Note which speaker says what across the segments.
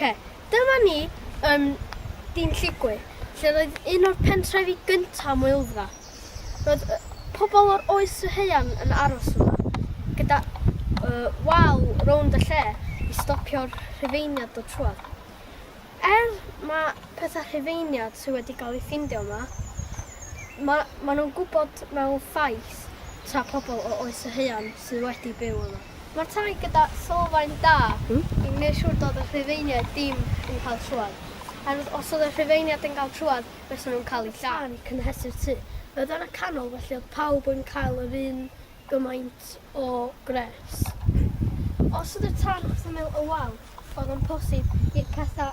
Speaker 1: Ok, dyma ni yn Dyn Lligwy, lle roedd un o'r pentrefi gyntaf am Wyldfa. Roedd pobl o'r oes y heian yn aros yma, gyda uh, wal rownd y lle i stopio'r rhufeiniad o trwad. Er ma' petha Rhufeiniad sy wedi ga'l 'u ffindio yma, ma' ma' nhw'n gwybod mewn ffaith ta pobl o oes y haearn sydd wedi byw yma. Ma'r tai gyda sylfaen da i neu' siŵr do'dd y Rhufeiniaid dim yn ca'l trwad, oherwydd os o'dd y Rhufeiniad yn ga'l trwad fysan nhw'n ca'l 'u lladd. Tan cynhesu'r tŷ. O'dd yna canol felly o'dd pawb yn cael yr un gymaint o gres. Os oedd y tân wrth ymyl y wal, oedd o'n posib i'r catha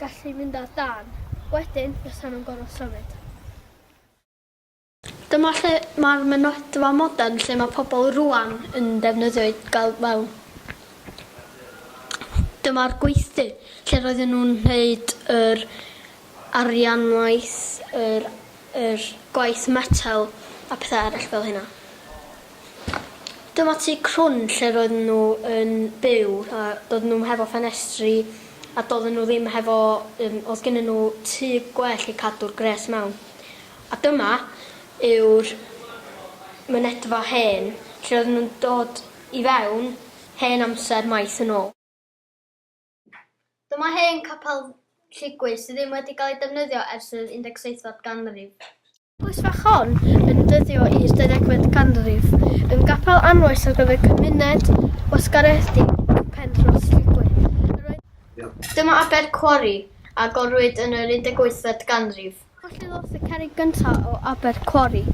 Speaker 1: gallu mynd ar dân. Wedyn, bysan nhw'n gorfod symud. Dyma lle mae'r mynydfa modern lle mae pobl rŵan yn defnyddio i gael mewn. Dyma'r gweithdy lle roedden nhw'n wneud yr arianwaith yr yr gwaith metel a pethe eryll fel hynna. Dyma tŷ crwn lle roedden nhw yn byw a doedden nhw'm hefo ffenestri a doedden nhw ddim hefo yym o'dd gynnyn nhw tŷ gwell i cadw'r gwres mewn. A dyma yw'r mynedfa hen lle oedden nhw'n dod i fewn hen amser maith yn ôl. Dyma hen Capel Lligwy sydd ddim wedi cael ei defnyddio ers yr 17fed ganrif. Eglwys fach hon yn dyddio i'r ddeuddegfed ganrif, yn gapel anwes ar gyfer cymuned wasgaredig Penrhos Lligwy. Yr oedd... Dyma Abercwari, a gorwyd yn yr 18fed ganrif. Colli Lofft y Cerrig Gyntaf o Abercwori.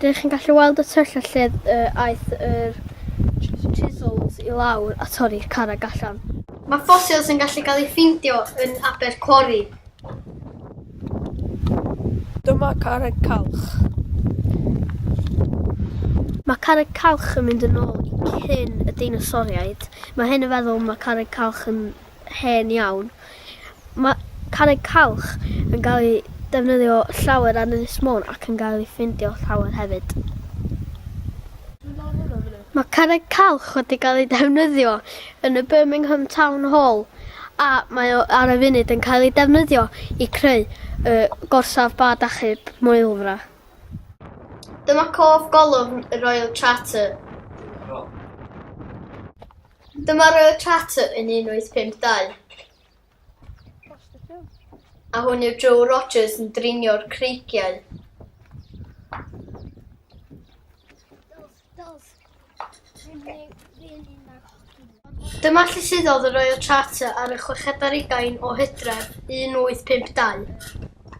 Speaker 1: Dych chi'n gallu weld y tyll a lle aeth yr chisels i lawr a torri'r carreg allan. Mae ffosils yn gallu cael eu ffeindio yn Abercwori. Dyma Carreg Calch. Mae Carreg Calch yn mynd yn ôl i cyn y deinosoriaid. Mae hyn yn feddwl mae Carreg Calch yn hen iawn. Mae carreg calch yn cael ei defnyddio llawer ar Ynys Môn ac yn cael ei ffeindio llawer hefyd. Mae carreg calch wedi cael ei defnyddio yn y Birmingham Town Hall a mae o ar y funud yn cael ei defnyddio i creu y gorsaf bad achub Maelfra. Dyma cof golofn y Royal Charter. Dyma Royal Charter yn 1852. A hwn yw Joe Rogers yn drinio'r creigiau. Dyma lle suddodd y Royal Charter ar y chweched ar ugain o hydref 1852.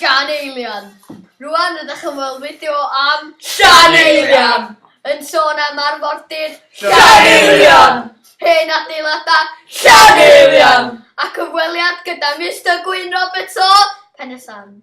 Speaker 1: Llan Eilian. Rwan rydych yn weld fideo am Llan Eilian! Yn sôn am arfordir Llan Eilian! Hen adeiladau Llan Eilian! A cyfweliad gyda Mister Gwyn Roberts o Pen-y-sand.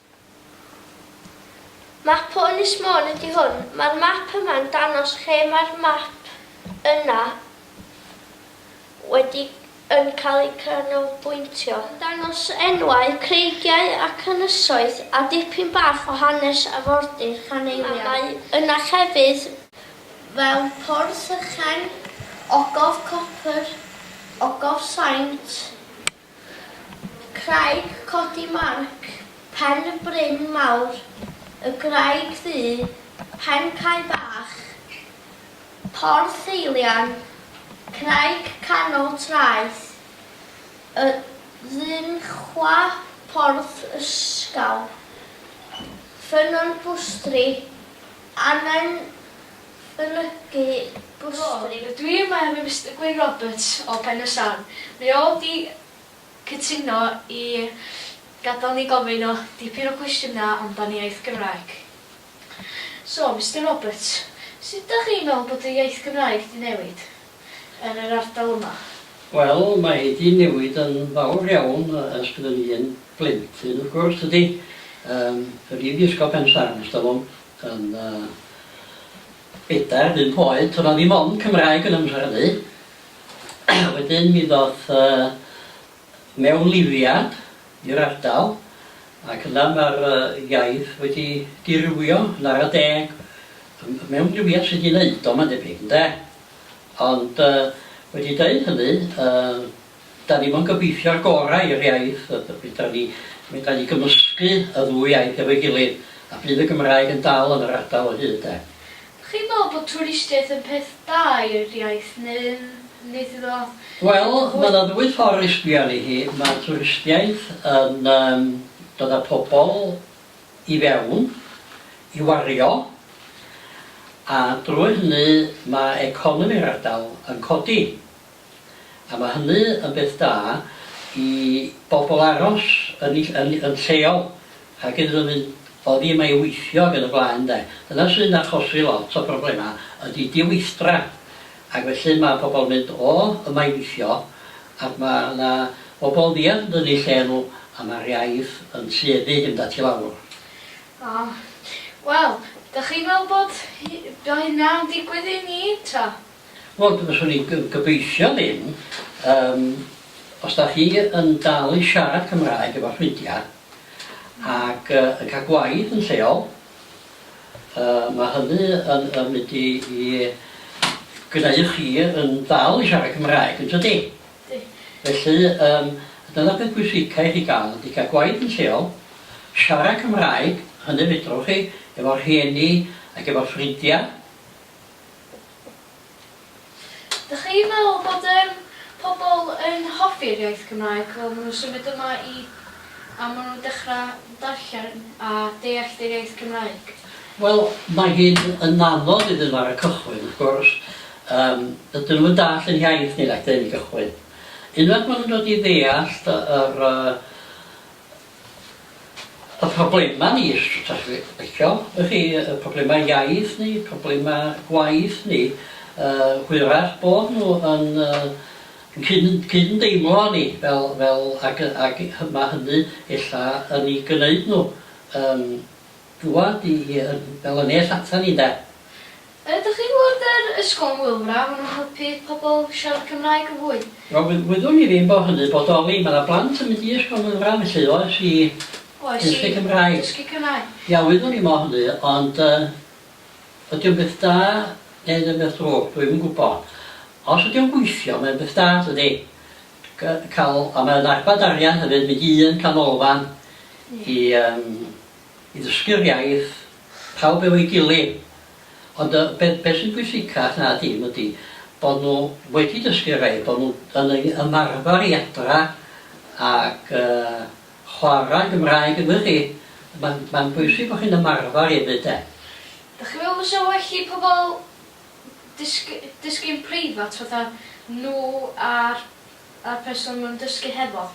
Speaker 1: Map o Ynys Môn ydy hwn. Mae'r map yma'n dangos lle mae'r map yna wedi yn cael ei canolbwyntio. Yn dangos enwau creigiau ac ynysoedd a dipyn bach o hanes arfordir Llaneulia. A mae yna llefydd fel Porth Ychen, Ogof Copr, Ogof Saint, Craig Codi Marc, Pen y Bryn Mawr, y Graig Ddu, Pen Cae Bach, Porth Eilian, Craig Canol Traeth y Ddinchwa, Porth Ysgaw, Ffynnon Bwstri, Annan mynychu bwstri. Wel, dw i yma efo Mister Gwyn Roberts o Pen-y-sarn. Mae o wedi cytuno i gadael ni gofyn o dipyn o gwestiynau amdan iaith Gymraeg. So, Mister Roberts, sut dach chi'n meddwl bod y iaith Gymraeg 'di newid yn yr ardal yma? Wel, mae hi 'di newid yn fawr iawn ers byddwn i yn blentyn, wrth gwrs, tydi? Yym, dw i 'di ysgol Pen-y-sarn, ers talwm. Yn y bedair bump oed to'dd 'na ddim ond Cymraeg yn 'y mhrynu. Wedyn mi ddoth y mewnlifiad i'r ardal ac yna ma'r yy iaith wedi dirywio yn ara deg. Y y mewnlifiad sy' 'di neud o ma'n debyg ynde? Ond yy wedi deud hynny yy Da ni mo'n gobeithio'r gorau i'r iaith, a fedra ni fedra ni gymysgu y ddwy iaith efo'i gilydd, a bydd y Gymraeg yn dal yn yr ardal o hyd de. Dach chi'n meddwl bod twristiaeth yn peth da i'r iaith neu'n neud iddo Wel, fwy... ma' 'na ddwy ffor' i sbio arni hi, ma' twristiaeth yn yym dod â pobol i fewn i wario, a drwy hynny ma' economi'r ardal yn codi. A mae hynny yn beth da i bobl aros yn eu yn yn lleol ac iddyn nhw fynd oddi yma i weithio ac yn y blaen de. Dyna sy'n achosi lot o broblemau ydy diweithdra ac felly mae pobl yn mynd o yma i weithio ac mae yna bobl ddiarth yn dynnu lle nhw a mae'r iaith yn tueddu i fynd at i lawr. O. Wel, dach chi'n meddwl bod hy- bod hynna'n digwydd i ni ta? Wel d- fyswn i'n g- gobeithio ddim. Yym os 'da chi yn dal i siarad Cymraeg efo ffrindia ac yy yn ca'l gwaith yn lleol yy ma' hynny yn yn mynd i i g'neu' chi yn dal i siarad Cymraeg yn tydi? Yndi. Felly yym dyna peth pwysica i chi ga'l ydi ca'l gwaith yn lleol, siarad Cymraeg, hynny fedrwch chi efo rhieni ac efo ffrindia. Dych chi'n meddwl bod yym pobl yn hoffi'r iaith Gymraeg fel ma' nhw'n symud yma i a ma' nhw'n dechra' darllen a deallt yr iaith Gymraeg? Wel, mae hi'n yn anodd iddyn nhw ar y cychwyn, wrth gwrs. Yym, dydyn nhw'm yn dallt yr hiaith ni nac 'dyn yn y cychwyn. Unwaith ma' nhw'n dod i ddeallt yr yy Y problemau ni, os dach chi'n licio, y'ch chi, y problemau iaith ni, problemau gwaith ni, yy hwyrach bod nhw yn yy yn cyn- cyn- deimlo â ni fel fel ag yy ag hy- ma' hynny ella yn ei gneud nhw yn dŵad i i yy fel yn nes ata ni ynde? Ydych chi'n gwybod yr ysgol yn Wylfra, maen nhw'n helpu pobl siarad Cymraeg yn fwy? Wel wy- wyddwn i ddim bod hynny'n bodoli, mae 'na blant yn mynd i ysgol Wylfra felly oes i Oes i dysgu Cymraeg. dysgu Cymraeg. Ia wyddwn i mo hynny ond yy ydi o'n beth da neu ydi o'n beth drwg dwi'm yn gwybod. Os ydi o'n gweithio mae'n beth da dydi? G- ca'l a mae o'n arbad arian hefyd mynd i un canolfan i yym i ddysgu'r iaith. pawb efo'i gilydd ond yy be be sy'n bwysicach na dim ydi bo nhw wedi dysgu rhai bo nhw yn ei ymarfar i adra ac yy chwara Gymraeg yn wych chi ma'n ma'n bwysig bo chi'n ymarfar efyd de. Dach chi'n meddwl fysa well i pobl dysg- dysgu'n preifat fatha nhw a'r y person mae'n dysgu hefo,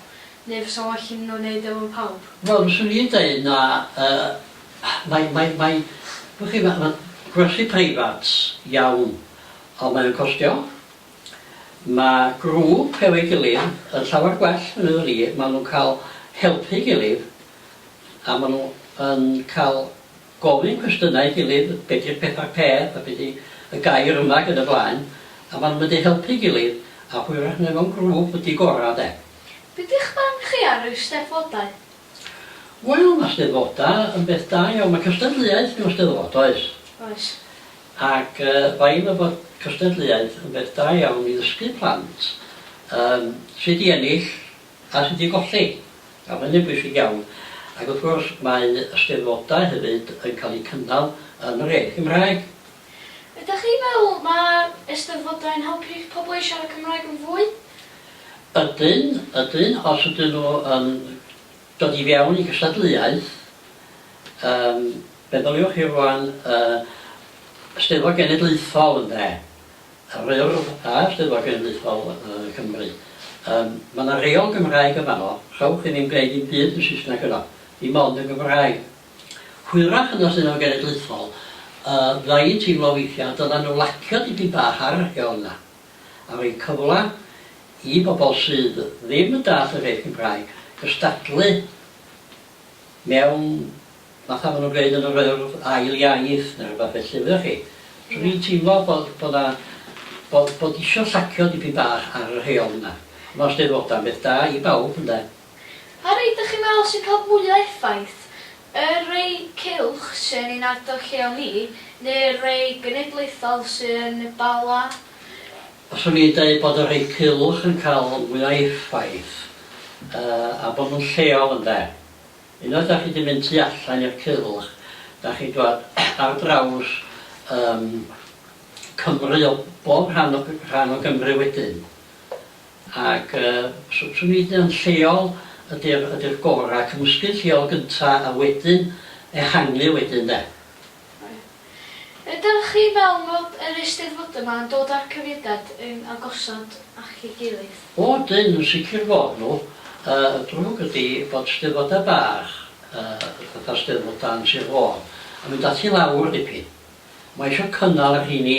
Speaker 1: neu fysa well iddyn nhw wneud o efo pawb? Wel, fyswn i'n deud na, yy mae mae mae wch chi ma' ma' gwersi preifat iawn ond mae o'n costio, ma' grŵp efo'i gilydd yn llawer gwell meddwn i, ma' nhw'n cael helpu'i gilydd a ma' nhw yn cael gofyn cwestiynau ei gilydd, be di'r pedair peth a be di y gair yma ac yn y blaen a ma nhw'n mynd i helpu ei gilydd a hwyrach neu mewn grŵp ydi gora de. Be di'ch barn chi ar yr Eisteddfodau? Wel ma Steddfoda yn beth da iawn, ma cystadleuaeth mewn Steddfod oes? Oes. Ac yy fai efo bod cystadleuaeth yn beth da iawn i ddysgu plant yym sud i ennill Cael hyd i golli. Mae hynny'n bwysig iawn. Ac wrth gwrs, mae y Steddfodau hefyd yn cael eu cynnal yn yr iaith Gymraeg. Ydych chi'n meddwl mae Eisteddfodau yn helpu pobl i siarad Cymraeg yn fwy? Ydyn, ydyn. Os ydyn nhw yn dod i fewn i gystadleuaeth, yym, meddyliwch chi rŵan yy Steddfod Genedlaethol, ynde. Yr Urdd a Llyfr Genedlaethol Cymru. Yym, ma' 'na reol Gymraeg yn fanno, rhowch i ni'm gneud dim byd yn Saesneg yno, dim ond yn Gymraeg. Hwyrach yn y Llyfr Genedlaethol, yy, fydda i'n teimlo weithia' dyla nhw lacio dipyn bach ar y reol yna, a roi cyfla i bobol sydd ddim yn dallt yr iaith Gymraeg gystadlu mewn Falle ma' nhw'n gweud yn yr Urdd ail iaith neu rwbath felly wyddoch chi. So dwi'n teimlo bod bod 'na bod bod isio llacio dipyn bach ar y rheol yna. Ma'r Eisteddfodau'n beth da i bawb ynde? Pa rei dych chi'n meddwl sy'n cael mwya' effaith? Y rei cylch sy yn ein ardal lleol ni neu'r rei genedlaethol sy yn y Bala? Fyswn i'n deud bod y rhei cylch yn cael mwya' effaith yy a bod nhw'n lleol ynde? Unwaith dach chi di mynd tu allan i'r Cylch dach chi'n dwad ar draws yym Cymru o bob rhan o rhan o Gymru wedyn ac yy s- swn i'n ddeud yn lleol ydi'r ydi'r gora', cymysgu'n lleol gynta' a wedyn ehangu wedyn de. Ydych chi'n meddwl bod yr Eisteddfodau yma yn dod â'r cymuned yn agosod at ei gilydd? O ydyn, yn sicr bod nhw. Y drwg ydy bod Steddfodau bach, fatha Steddfod Dan Sir Fôn, yn mynd at i lawr dipyn. Mae eisiau cynnal y rheini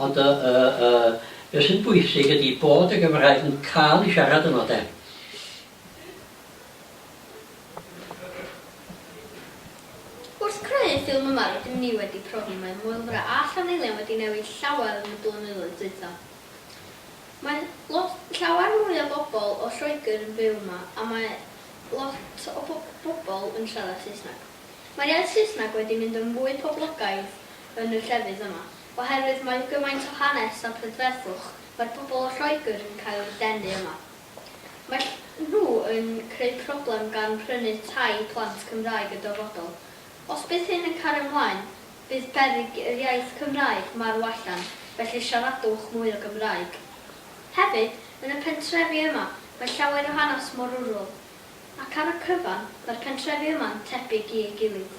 Speaker 1: Ond y y y beth sy'n bwysig ydi bod y Gymraeg yn ca'l i siarad yno de. Wrth creu y ffilm yma rydym ni wedi profi mae Maelfra a Llanylion wedi newid llawer yn y blynyddoedd dwytha. Mae lot, llawer mwy o bobl o Lloegr yn byw yma a mae lot o bo bobl yn siarad Saesneg. Mae'r iaith Saesneg wedi mynd yn fwy poblogaidd yn y llefydd yma. Oherwydd mae gymaint o hanes a prydferthwch, mae'r pobl o Lloegr yn cael eu denu yma. Mae nhw yn creu problem gan prynu tai i plant Cymraeg y dyfodol. Os bydd hyn yn cario mlaen, bydd berig yr iaith Cymraeg marw allan, felly siaradwch mwy o Gymraeg. Hefyd, yn y pentrefi yma, mae llawer o hanes mor rwrwl. Ac ar y cyfan, mae'r pentrefi yma'n tebyg i ei gilydd.